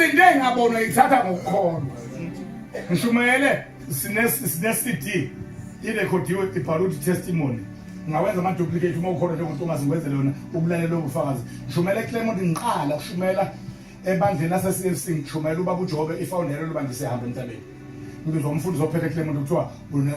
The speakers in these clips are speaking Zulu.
izinto engabonwa ithatha ngokukholwa ngishumayele sine-cd irekhodiwe ibhala ukuthi testimony ngawenza ama-duplicate uma ukhona njengomuntu ongazingweze lona ubulale lobo bufakazi ngishumayela eclemont ngiqala kushumayela ebandleni lase-c f c ngishumayela ubaba ujobe ifawundela loba ngisehamba emhlabeni ngizwa umfundisi ophethe eclemont kuthiwa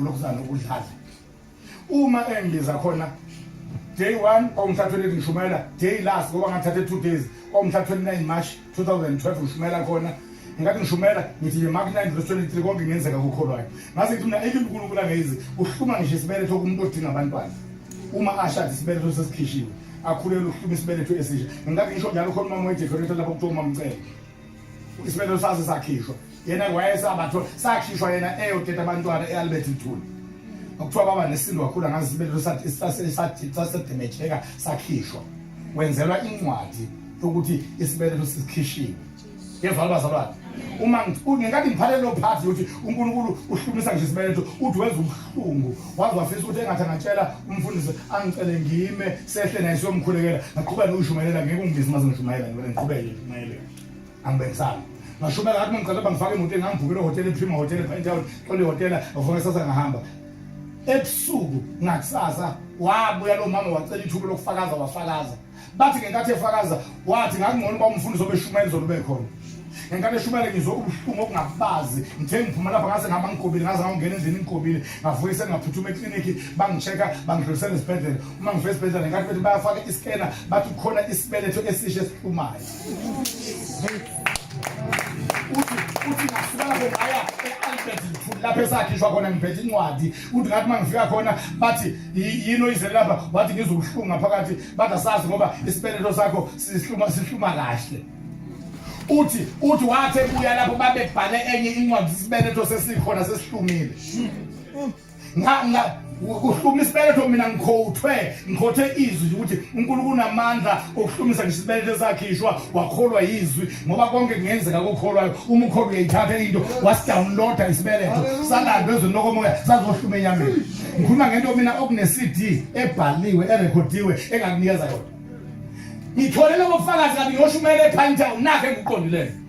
ulokhuzana ukudlala uma engibiza khona day 1 kwangithatha 28 ngishumayela day last ngoba ngathatha 2 days kwangithatha 29 march 2012 ngishumayela khona ngathi ngishumayela ngithi nje mark 9 verse 23 konke ngenzeka kukholwayo ngaze ngithi mina ike unkulunkulu angezi uhluma ngisho isibeletho kumuntu odinga abantwana uma ashada isibeletho sesikhishiwe akhulele ukuhluma isibeletho esisha ngathi ngisho njalo khona umama wejeferetha lapho kuthiwa umamcele isibelo saso sakhishwa yena wayesabatho sakhishwa yena eyoteta abantwana e-albert mthuli okuthiwa baba nesindo kakhulu angazi isibelo sasedemejeka sakhishwa wenzelwa incwadi yokuthi isibeletho sikhishiwe yezwa abazalwane uma ngenkathi ngiphalele lo phathi yokuthi unkulunkulu uhlumisa nje isibeletho uthi wenza ubuhlungu waze wafisa ukuthi engathi angatshela umfundisi angicele ngime sehle naye siyomkhulekela ngaqhubeka nokushumayela ngeke ungibizi uma sengishumayela ngibele ngiqhubeke ngishumayele angibekisanga ngashumela ngathi mangicela bangifake emotweni ngangivukela ehotela iprima hotela epentown xole ihotela ngivukela sasa ngahamba ebusuku ngakusasa wabuya lo mama wacela ithuba lokufakaza wafakaza bathi ngenkathi efakaza wathi ngakungcono uba umfundisi obeshumela izolo ube khona ngenkathi eshumele ngizwe ubuhlungu okungabazi ngithe ngiphuma lapha ngase ngihamba ngigobile ngaze ngawungena endlini ngigobile ngavuke sengingaphuthuma eklinikhi bangi-check-a bangidlulisela esibhedlela uma ngivela esibhedlela ngenkathi bethi bayafaka iskena bathi kukhona isibeletho esisha esiphumayo lapho esakhishwa khona ngiphethe incwadi uthi ngathi uma ngifika khona bathi yini oyizele lapha wathi ngizokuhlunga phakathi bathi asazi ngoba isibeletho sakho sihluma sihluma kahle uthi uthi wathi ebuya lapho babebhale enye incwadi isibeletho sesikhona sesihlumile kuhluma isibeletho mina ngikhothwe ngikhothe izwi ukuthi uNkulunkulu unamandla okuhlumisa ngisho isibeletho esakhishwa wakholwa yizwi ngoba konke kungenzeka kokholwayo uma ukholwa uyayithatha into wasidownloada isibeletho salandwe ezweni lokomoya sazohluma enyameni ngikhuluma ngento mina okune-cd ebhaliwe erekhodiwe engakunikeza yona ngithole lobofakazi kanti ngiyoshumayela ephantown nakho engikuqondileyo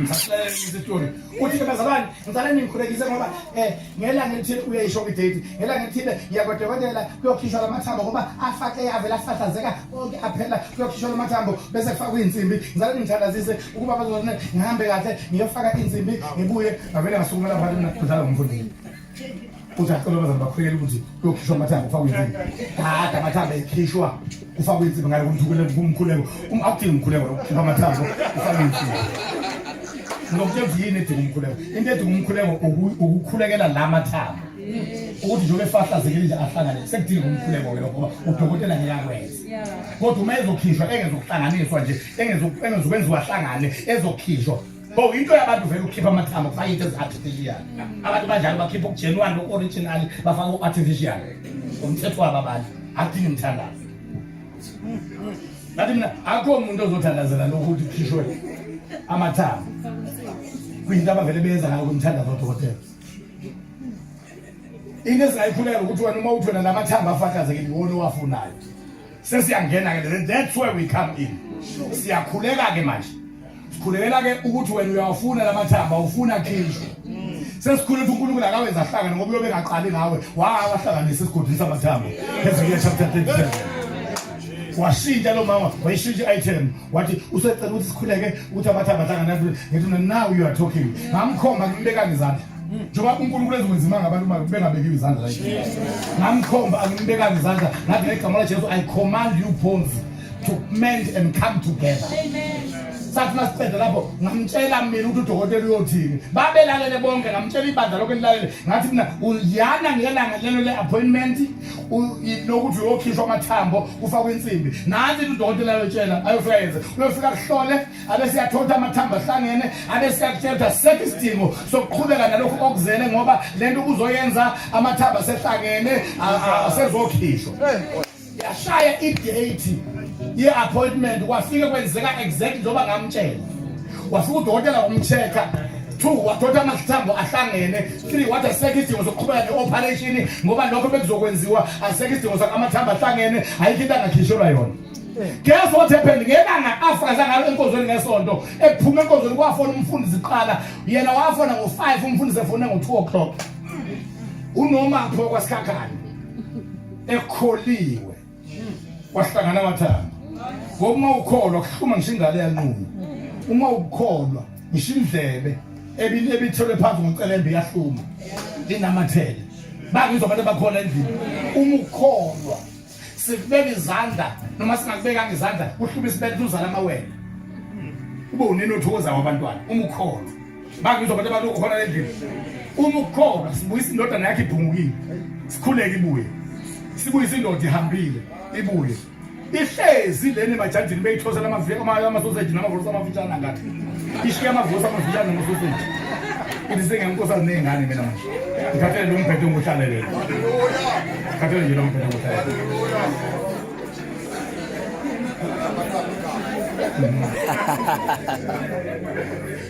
ngisitoni uthi ke bazalwane ngicela ningikhulekise ngoba um ngelanga elithile uyayisho kwidate ngelanga elithile ngiyakwadokotela kuyokhishwa la mathambo ngoba afake avele afahlazeka konke aphela kuyokhishwa la mathambo bese kufakwa iy'nsimbi ngicela ningithandazise ukuba bazone ngihambe kahle ngiyofaka iy'nsimbi ngibuye ngavele ngasukumela phanti mina kudlala ngomfundini uthi acela abazali bakhulekela ukuthi kuyokhishwa amathambo kufakwe insimbi kade amathambo ekhishwa kufakwe insimbi ngale kumkhuleko um, akudingi umkhuleko lokukhipha amathambo kufakwe insimbi nokuthi enzi yini edinga umkhuleko into edinga umkhuleko ukukhulekela la mathambo ukuthi njengoba efahlazekile nje ahlangane sekudinga umkhuleko ke lokho udokotela ngeke akwenze kodwa uma ezokhishwa engezokuhlanganiswa nje engezokwenziwa ahlangane ezokhishwa Bo into yabantu vele ukhipha amathambo kufaka into ezi-artificial. Abantu banjalo bakhipha okugenuine loku-original bafaka u-artificial. Umthetho wabo abantu akudingi mthandazo. Ngathi mina akho umuntu ozothandazela lokhu ukuthi kukhishwe amathambo. Kuyinto abavele benza ngayo kumthandazo odokotela. Into esingayikhuleka ukuthi wena uma uthwena lamathambo afakazekile iwona owafunayo. sesiyangena ke then that's where we come in siyakhuleka ke manje sikhulekela ke ukuthi wena uyawafuna lamathamba ufuna khishwe sesikhulula ukuthi uNkulunkulu akawenza ahlangane ngoba uyobe engaqali ngawe wawahlanganisa esigodini samathambo ezekiya chapter 37 washintsha lo mama wayishintsha i-item wathi usecela ukuthi sikhuleke ukuthi abathi abahlangana ngithi mina now you are talking ngamkhomba ngimbekanga izandla njengoba unkulunkulu ezikwenzima ngabantu uma bengabekiwe izandla la ngamkhomba angimbekanga izandla ngathi ngegama lajesu i command you bones to mend and come together sathi masiqeda lapho ngamtshela mina ukuthi udokotela uyothini babelalele bonke ngamtshela ibandla lokho elilalele ngathi mina uyana ngelanga lelo le-appointment lokuthi uyokhishwa amathambo kufakwa insimbi nansi udokotela ayotshela ayofika yenze uyofika kuhlole abesiyathola amathambo ahlangene abesiyakutshela ukuthi asekho isidingo sokuqhubeka nalokhu okuzele ngoba le nto kuzoyenza amathambo asehlangene asezokhishwa yashaya idate ye-appointment kwafike kwenzeka exactly njengoba ngamtshela wafika udokotela wamcheck-a two wadoda amathambo ahlangene three wathi asekho isidingo sokuqhubeka ne-operation ngoba lokho bekuzokwenziwa asekho isidingo sakho amathambo ahlangene ayikho into angakhishelwa yona guess what happened ngelanga afakaza ngalo enkonzweni ngesonto ekuphuma enkonzweni kwafona umfundisi kuqala yena wafona ngo-five umfundisi efone ngo-two o'clock unomaphi wakwasikhakhala ekholiwe kwahlangana amathanga ngoba uma ukholwa kuhluma ngisho ingane yanqunywa uma ukukholwa ngisho indlebe ebithelwe phansi ngocelembe iyahluma linamathele bangizwa abantu abakhona endlini uma ukholwa sikubeka izandla noma singakubekanga izandla kuhluma isibele uzala amawele ube unini othokozayo wabantwana uma ukholwa bangizwa abantu abalokhona endlini uma ukhona sibuyisa indodana yakhe ibhungukile sikhuleke ibuye sibuyisa indoda ihambile ibuye ihlezi leni emajajini beyithosela amasoseji namavusa amafitshane angathi ishiye amavusa amafitshane namasoseji ithi sengenkosazi ney'ngane mina manje ngikhathele lo mbhedo onguhlalelele ngikhathele nje lo mbhedo onguhlalelele Ha ha ha ha ha.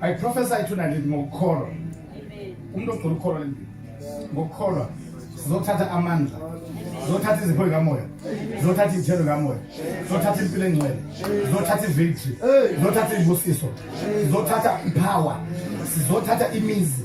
I prophesy tonight ngokukholwa umuntu ogcina ukukholwa le ndini ngokukholwa sizothatha amandla zothatha izipho zikamoya zothatha izithelo zikamoya zothatha impilo engcwele zothatha ivictory zothatha izibusiso zothatha ipower sizothatha imizi